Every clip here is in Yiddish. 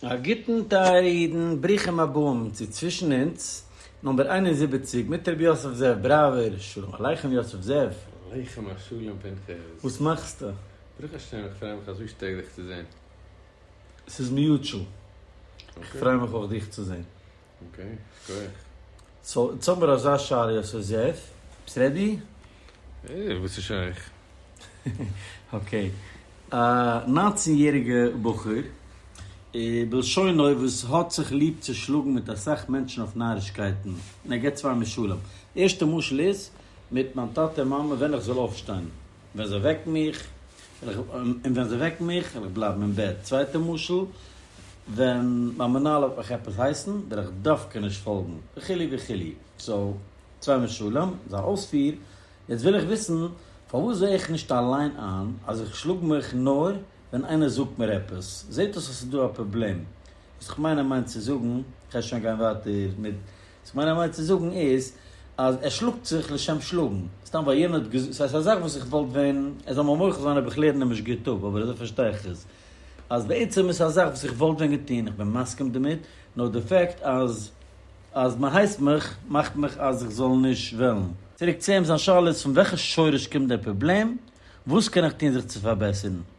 א גוטן טייערע אידן, ברוכים הבאים צו צווישן אונז נומבער איין און זיבעציק מיט רבי יוסף זאב בראווער, שלום עליכם יוסף זאב. עליכם השלום פנחס. וואס מאכסטו? ברוך השם איך פריי מיך אזוי שטארק דיך צו זען. ס'איז מיוטשעל. איך פריי מיך אויך דיך צו זען. אקעי, גרייט. סאו יעצט האבן מיר אזא שאלה, סאו זעף, ביסט רעדי? אה, וואס איז שייך? אקעי. א נײַנצן יעריגע בחור, בלשונו, וואס האט זיך ליב צו שלאגן מיט אסאך מענטשן אויף נארישקייטן, און ער געבט צוויי משלים. די ערשטע משל איז, מיט מיין טאטע און מאמע ווען איך זאל אויפשטיין. און ווען זיי וועקן מיך, וועל איך, און ווען זיי וועקן מיך, וועל איך בלייבן אין בעט. צווייטע משל, ווען מיין מנהל וועט מיך עפעס הייסן, וועל איך דווקא נישט פאלגן, וכו' וכו'. סאו, צוויי משלים, זיין אויספיר, יעצט וויל איך וויסן, פארוואס זעה איך נישט אליין איין, אז איך שלאג מיך נאר ווען איינער זאגט מיר עפעס? זעט אויס אז ס'איז דא א פראבלעם. וואס איך מיין ער מיינט צו זאגן, כ'על שוין גיין ווייטער מיט. וואס כ'מיין אמת צו זאגן איז אז ער שלאגט זיך לשם שלאגן, סתם ווייל יענער האט געזאגט, סאיז א זאך וואס איך וואלט ווען ער זאל מיר מוחל זיין אויב איך לערן נישט גוט אפ אבער אזוי פארשטיי איך עס אז בעצם איז א זאך וואס איך וואלט ווען געטון איך בין מסכים דערמיט נאר די פעקט אז אז מען הייסט מיך מאכט מיך אז איך זאל נישט וועלן. צוריק צו אים זיין שאלה איז פון וועלכע שורש קומט דער פראבלעם וואס קען איך טון זיך צו פארבעסערן?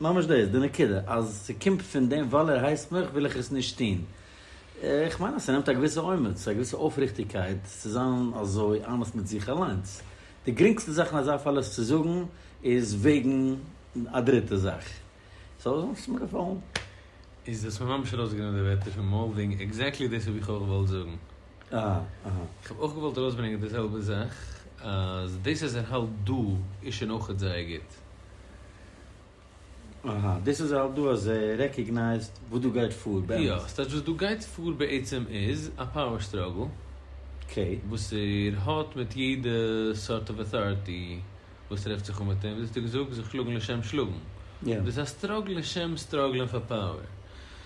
ממש דאס די נקודה, אז ס'קומט פון דעם ווייל ער הייסט מיך וויל איך עס נישט טון. איך מיין אז ס'נעמט א געוויסע אומץ, א געוויסע אויפריכטיגקייט צו זיין אזוי אמת מיט זיך אליינס. די גרינגסטע זאך אין אזא פאל עס צו זאגן איז וועגן א דריטע זאך. סאו אזוי האט עס מיר געפאלן. איז דאס ממש ארויסגענומען די ווערטער פון מויל דינג, עקזעקטלי דאס האב איך אויך געוואלט זאגן. איך האב אויך געוואלט ארויסברענגען די זעלבע זאך אז דאס אז ער האלט דא איז שוין אויכעט זייער גוט. אהא, דאס אז ער האלט דא אז ער רעקאגנייזד וואס דא גייט פאר באמת. יא, ס'טייטש וואס דא גייט פאר בעצם איז א פאוער סטראגל וואס ער האט מיט יעדע סארט אוו אוטאריטי וואס טרעפט זיך אן מיט אים, ווי דו האסט געזאגט, זיך שלאגן לשם שלאגן. דאס איז א סטראגל לשם סטראגלען פאר פאוער.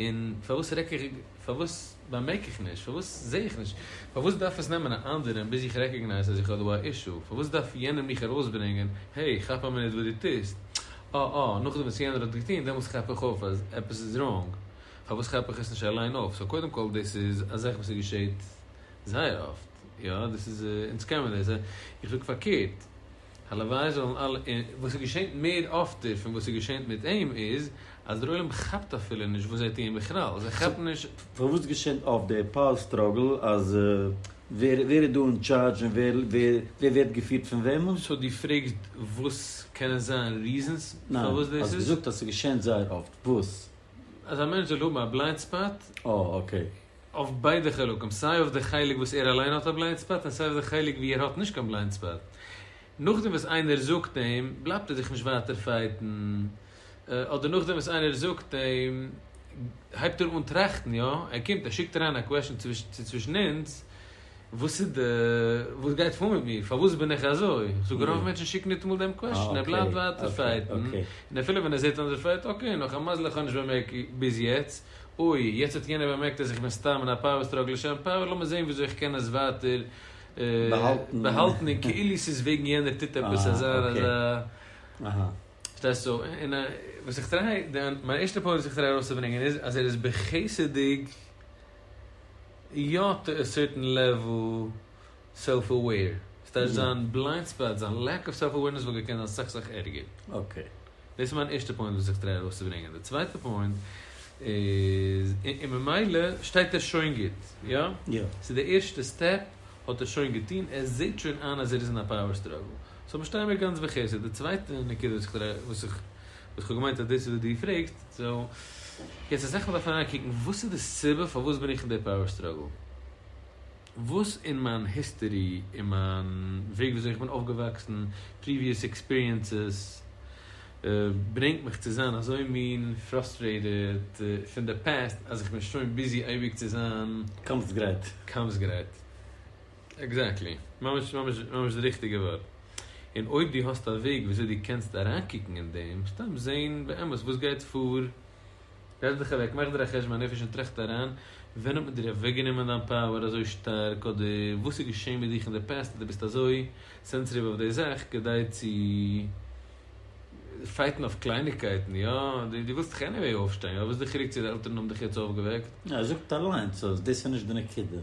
און פארוואס רעק איך, פארוואס באמערק איך נישט, פארוואס זע איך נישט, פארוואס דארף עס נעמען א אנדערען ביז איך רעקאגנייז אז איך האב דא א אישו, פארוואס דארף יענער מיך ארויסברענגען, העי, כאפ א מינוט וואס דו טוסט, אה אה, נאכדעם וואס יענער האט געטון, דעמאלטס כאפ איך אויף אז עפעס איז ראנג, פארוואס כאפ איך עס נישט אליין אויף, סאו קודם כל דאס איז א זאך וואס געשעט זייער אפט, יא, דאס איז, אונז קען מיר דאס, איך זאג פארקערט, הלוואי זאלן אלע און וואס עס געשענט מער אפטער פון וואס עס געשענט מיט אים איז אז דער עולם כאפט אפילו נישט וואס זיי טוען בכלל זיי כאפן נישט. פארוואס געשענט אפט די פאוער סטראגל אז ווער איז דא און טשארדזש און ווער ווערט געפירט פון וועמען? סאו דו פרעגסט וואס קענען זיין ריזענס פארוואס דאס איז? ניין, האסט געזאגט אז ס'געשענט זייער אפט, וואס? אז א מענטש זאל האבן א בליינד ספאט? אה אקעי. אויף ביידע חלקים, סיי אויף די חלק וואס ער אליין האט א בליינד ספאט און סיי אויף די חלק ווי ער האט נישט קיין בליינד ספאט. נאכדעם וואס איינער זאגט אים, בלייבט ער זיך נישט ווייטער פייטן, אדער נאכדעם וואס איינער זאגט אים, הייבט ער אן טראכטן, יא, ער קומט, ער שיקט אריין א קוועשאן צו צווישן אונז, וואס איז די, וואס גייט פאר מיט מיר? פארוואס בין איך אזוי? איך זאג רוב מענטשן שיקן ניטאמאל דעם קוועשטשן, ער בלייבט ווייטער פייטן, און אפילו ווען ער זעט אנדערש פייט, אקעי, נאך א מזל איך האב נישט באמערקט ביז יעצט, אוי, יעצט האט יענער באמערקט אז איך בין סתם אין א פאוער סטראגל לשם פאוער, לאמיר זען וויאזוי איך קען עס ווייטער באהאלטן און כאילו ס'איז וועגן יענער טוט עפעס אזא און אזא. פארשטייסט? סאו, און וואס איך טריי, מיין ערשטע פוינט וואס איך טריי ארויסצוברענגען איז אז ער איז בחסד'יג יא טו א סערטען לעוועל סעלף אוועיר, ס'טייטש זיין בליינד ספאט, זיין לעק אוו סעלף אווערנעס וואלט געקענט זיין אסאך אסאך ערגער. אקעי. דאס איז מיין ערשטע פוינט וואס איך טריי ארויסצוברענגען. די צווייטע פוינט איז, און ממילא שטייט ער שוין גוט, יא? יא. סאו די ערשטע סטעפ האט ער שוין געטון, ער זעהט שוין איין אז ער איז אין א פאוער סטראגל. סאו מיר שטייען מיר גאנץ בחסד. די צווייטע נקודה וואס איך טריי, וואס איך וואס כ'האב געמיינט אז דאס איז וואס דו פרעגסט, סאו יעצט אז איך וועל דארפן אריינקוקן וואס איז די סיבה פארוואס בין איך אין די פאוער סטראגל? וואס אין מיין היסטערי, אין מיין וועג וויאזוי איך בין אויפגעוואקסן, פריוויעס עקספיריענסעס, ברענגט מיך צו זיין אזוי מין פראסטרעיטעד פון די פעסט אז איך בין שוין ביזי אייביג צו זיין קאמפס גרייט? קאמפס גרייט. עקזעקטלי. ממש ממש ממש די ריכטיגע ווארט. און אויב דו האסט א וועג וויאזוי דו קענסט אריינקוקן אין דעם, סתם זען באמת וואס גייט פאר, זעץ דיך אוועק, מאך דיר א חשבון הנפש און טראכט אריין, ווען האט מען דיר אוועקגענומען דיין פאוער אזוי שטארק, אדער וואס איז געשען מיט דיך אין די פעסט אז דו ביסט אזוי סענסעטיוו אויף די זאך כדי צו פייטן אויף קלייניגקייטן, יא, דו ווילסט דאך עניוועי אויפשטיין, יא, וואס איז די חילוק צו די עלטערן האבן דיך יעצט אויפגעוועקט? ער זאגט אליינס אז דאס איז נישט די נקודה,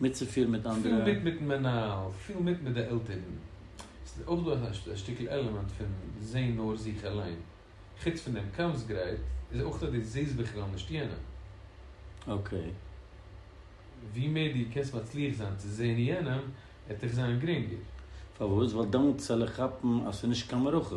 מיטצופירן מיט אנדערע. פיל מיט מיטן מנהל, פיל מיט מיט די עלטערן. עס איז אויך דא א שטיקל עלעמענט פון זעהן נאר זיך אליין. חוץ פון דעם קאמסט גרייט, איז אויך אז דו זעהסט בכלל נישט יענעם. אקעי. ווי מער דו קענסט מצליח זיין צו זעהן יענעם, עט דיך זיין גרינגער. פארוואס? ווייל דאן צעל איך כאפן אז ס'איז נישט קיין מערכה.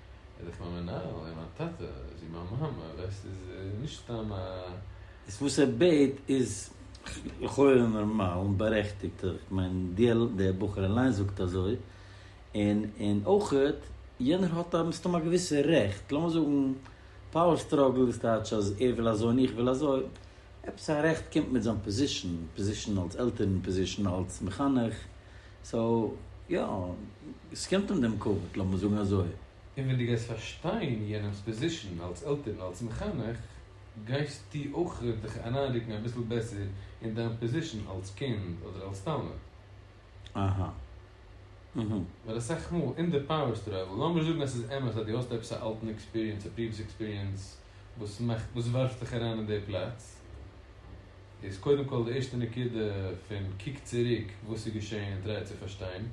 איז דאך מיין מנהל און מיין טאטע, זי מיין מאמע, ווייסט איז נישט סתם א. איז וואס ער בעט איז לכאורה נארמאל און בארעכטיגט, איך מיין דער בחור אליין זאגט אזוי, און און אויכעט יענער האט א מסתם א געוויסע רעכט, לאמיר זאגן פאוער סטראגל איז טייטש אז ער וויל אזוי און איך וויל אזוי, עפעס א רעכט קומט מיט זיין פאזישן, פאזישן אלס עלטערן, פאזישן אלס מחנך. סאו יא, עס קומט אים דעם כבוד, לאמיר זאגן אזוי. און ווען דו גייסט פארשטיין יענעמ'ס פאזישאן אלס עלטערן און אלס מחנך, גייסטו אויך דיך אריינרוקן אביסל בעסער אין דיין פאזישאן אלס קינד אדער אלס תלמיד. אהה. אהה. ווייל אסאך מאל אין די פאוער סטראגל, לאמיר זאגן אז ס'איז אמת אז דו האסט עפעס א אלטן עקספיריענס, א פריוויעס עקספיריענס וואס מאכט, וואס ווארפט דיך אריין אין די פלאץ, איז קודם כל די ערשטע נקודה פון קוק צוריק וואס איז געשעהן און טריי צו פארשטיין,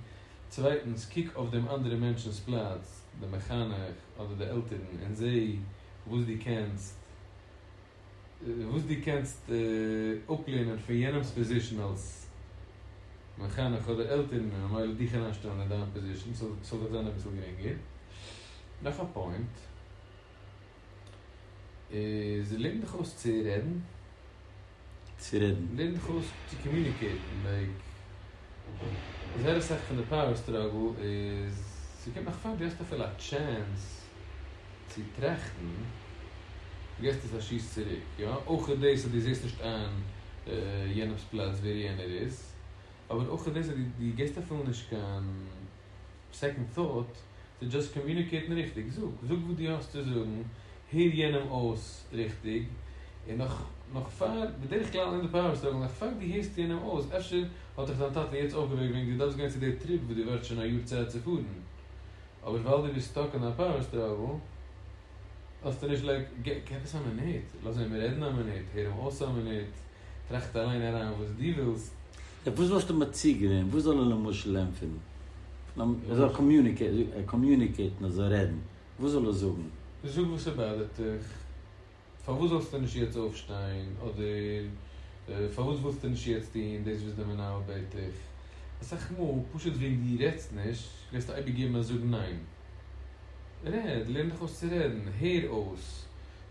צווייטנס קוק אויף דעם אנדערע מענטשנס פלאץ, די מחנך אדער די עלטערן און זעה וואס דו קענסט וואס דו קענסט אפלערנען פון יענעמס פאזישן אלס מחנך אדער עלטערן און ממילא דיך אריינשטעלן אין דיין פאזישן ס'זאל דיך זיין אביסל גרינגער. נאך א פוינט. איז לערן דיך אויס צו רעדן. צו רעדן. לערן דיך אויס צו קאמיוניקעיטן, לייק, זייער אסאך פון די פאוער סטראגל איז, ס'קומט נאך פאר דו האסט אפילו א טשענס צו טראכטן, געסט עס א שיס צוריק, יא, אויך איז דאס אז דו זעסט נישט איין יענעמ'ס פלאץ ווער יענער איז, אבער אויך איז דאס אז דו געסט אפילו נישט קיין. סעקאנד טאוט, טו דזשאסט קאמיוניקעיטן ריכטיג, זאג זאג וואס דו האסט צו זאגן, הער יענעם אויס ריכטיג, און נאך נאך פאר, בדרך כלל אין די פאווער סטראגל, נאך פאר דו הערסט יענעם אויס, אפשר האט דיך דיין טאטע יעצט אויפגעוועקט וועגן דו דארפסט גיין צו די טריפ וואס דו ווארטסט שוין א יאר צייט צו פארן, אבער ווייל דו ביסט סטאק אין דיין פאווער סטראגל, האסטו נישט לייק, גיב עס א מינוט, לאז אים רעדן א מינוט, הער אים אויס א מינוט, טראכט אליין אריין וואס דו ווילסט. אויף וואס וואלסטו מציע געווען? וואס זאל ער למשל לענפערן? ער זאל קאמיוניקעיטן, ער זאל רעדן, וואס זאל ער זאגן? זאג וואס עס באדערט דיך, פארוואס זאלסטו נישט יעצט אויפשטיין, אדער פארוואס ווילסטו נישט יעצט טון דאס וואס די מנהל בעט דיך? אסאך מאל פשוט וועגן דו רעדסט נישט, וועסטו אייביג געבן א זאג ניין. רעד, לערן דיך אויס צו רעדן, הער אויס,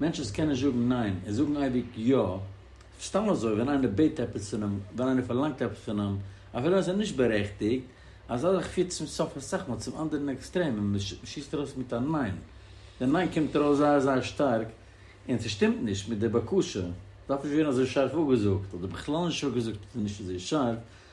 מענטשן וואס קענען זאגן ניין און זאגן אייביג יא, סתם אזוי ווען איינער בעט עפעס פון אים, ווען איינער פארלאנגט עפעס פון אים, אפילו ווען ס'איז נישט בארעכטיגט, אזא זאך פירט צום סוף אסאך מאל צום אנדערן עקסטרעם און מ'שיסט ארויס מיט א ניין. די ניין קומט ארויס זייער זייער שטארק און ס'שטימט נישט מיט די בקשה, דארף נישט ווערן אזוי שארף אפגעזאגט, אדער בכלל נישט אפגעזאגט איז נישט אזוי שארף,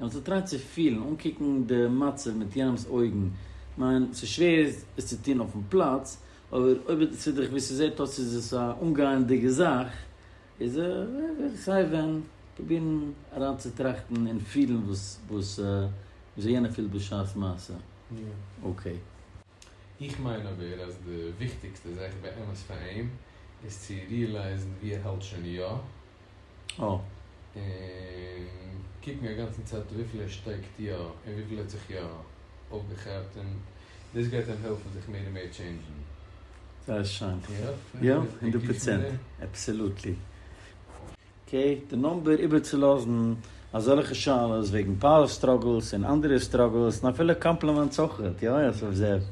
און האט געטרייט צו פילן, אנקוקן די מצב מיט יענעמ'ס אויגן, כ'מיין, ס'איז שווער עס צו טון אויפן פלאץ, אבער אויב איז דאס וויאזוי ס'זעט אויס איז עס א אנגייענדיגע זאך, איז ער וועט זיך סיי ווען פרובירן אריינצוטראכטן און פילן וואס וויאזוי יענער פילט בשעת מעשה. אקעי. איך מיין אבער אז די וויכטיגסטע זאך באמת פאר אים איז צו ריעלייזן וואו ער האלט שוין יא, און קוקן א גאנצן צייט וויפיל ער שטייגט יא און וויפיל ער האט זיך יא אויפגעכאפט און דאס גייט אים העלפן זיך מער און מער טשעינדזשן. זייער שיין. יא, הונדערט פראצענט. עבסעלוטלי. אקעי, די נומבער איבערצולאזן אזעלכע שאלות וועגן פאוער סטראגלס און אנדערע סטראגלס און אפילו קאמפלימענטס אויך, יא עס אויף זעב,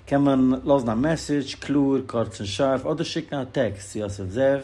קען מען לאזן א מעסעדזש, קלאר, קורץ און שארף, אדער שיקן א טעקסט צו אסף זאב.